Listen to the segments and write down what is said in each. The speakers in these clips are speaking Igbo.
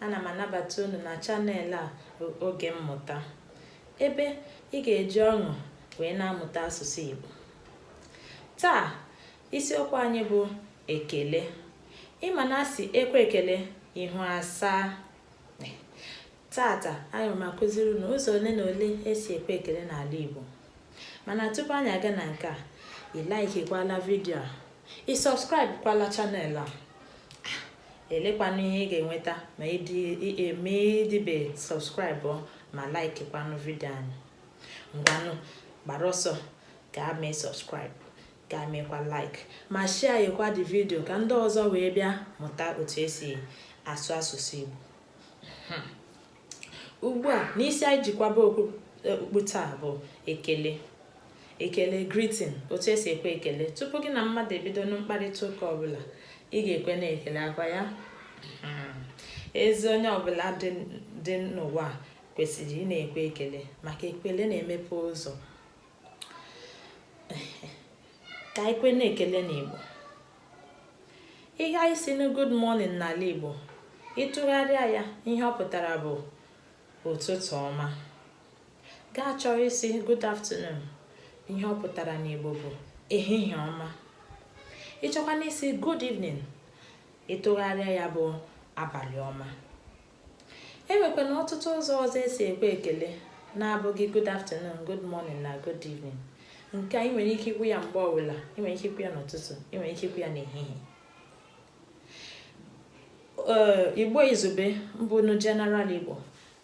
ana m anabata unu na chanel a bụ oge mmụta ebe ị ga-eji ọṅụ wee na-amụta asụsụ Igbo taa isiokwu anyị bụ ekele ị ma na a sị e kwe ekele ihu asaa Taata, aga m akụziri unu ụzọ ole na ole esi ekwe ekele n'ala Igbo. Mana tupu anyị aga na nke a, ị like-kwala vidio a, ị subscribe-kwala chanel a. Elekwanụ ihe ị ga-enweta ma ịdịbe subscribe ma like-kwanụ vidio anyị. Ngwanụ, gbara ọsọ gaa mee subscribe gaa meekwa like ma share-kwa the vidio ka ndị ọzọ wee bịa mụta otu esi asụ asụsụ Igbo. hmm. ugbu a n'isi anyị ji kwaba okpu taa bụ ekele ekele greeting otu esi ekwe ekele tupu gị na mmadụ ebido na mkparịta ụka ọbụla ị ga-ekwenụ ekele a kwa ya hmm. ezi onye ọbụla dị n'ụwa kwesịrị ịna-ekwe ekele maka ekele na-emepe ụzọ ka e kwenụ ekele n'Igbo ihe anyị sị na good morning n'ala Igbo ị tụgharịa ya ihe ọ pụtara bụ ụtụtụ ọma gaa chọọ ịsị good afternoon ihe ọ pụtara n'Igbo bụ ehihie ọma ị chọkwanụ ịsị good evening ị tụgharịa ya bụ abalị ọma E nwekwana ọtụtụ ụzọ ọzọ esi ekwe ekele na-abụghị good afternoon, good morning na good evening. Nke a ị nwere ike ikwu ya mgbe ọbụla, ị nwere ike ikwu ya n'ụtụtụ, ị nwere ike ikwu ya n'ehihie. Ee, Igbo Izugbe bụnụ General Igbo,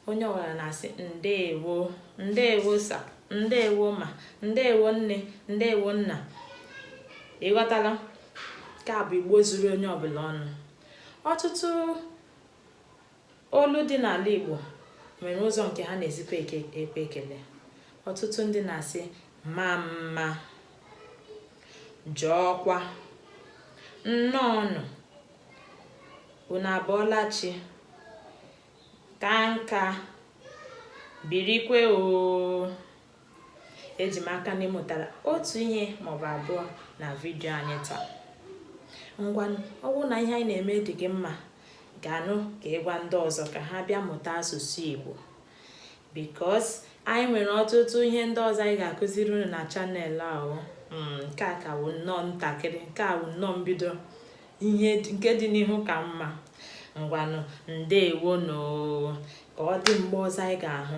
onye ọbụla na-asị ndeewo, ndeewo sa, ndeewo ma, ndeewo nne, ndeewo nna. Ị ghọtala? Nke a bụ Igbo zuru onye ọbụla ọnụ. Ọtụtụ Olu dị n'ala Igbo nwere ụzọ nke ha na-esikwa ekwe ekele. Ọtụtụ ndị na-asị mamma, jọọkwa, nnọọnụ, unu abọọla chi, ka nka, birikwe oo. eji m aka na ị mụtala otu ihe maọbụ abụọ na vidio anyị taa ngwa ọ bụrụ na ihe anyị na-eme dị gị mma gaanụ ka ị gwa ndị ọzọ ka ha bịa mụta asụsụ Igbo because anyị nwere ọtụtụ ihe ndị ọzọ anyị ga-akụziri unu na chanel a hmm, nke a ka wụ nnọọ ntakịrị nke a wụ nnọọ mbido ihe nke dị n'ihu ka mma ngwanụ ndewonụ ka ọ dị mgbe ọzọ anyị ga-ahụ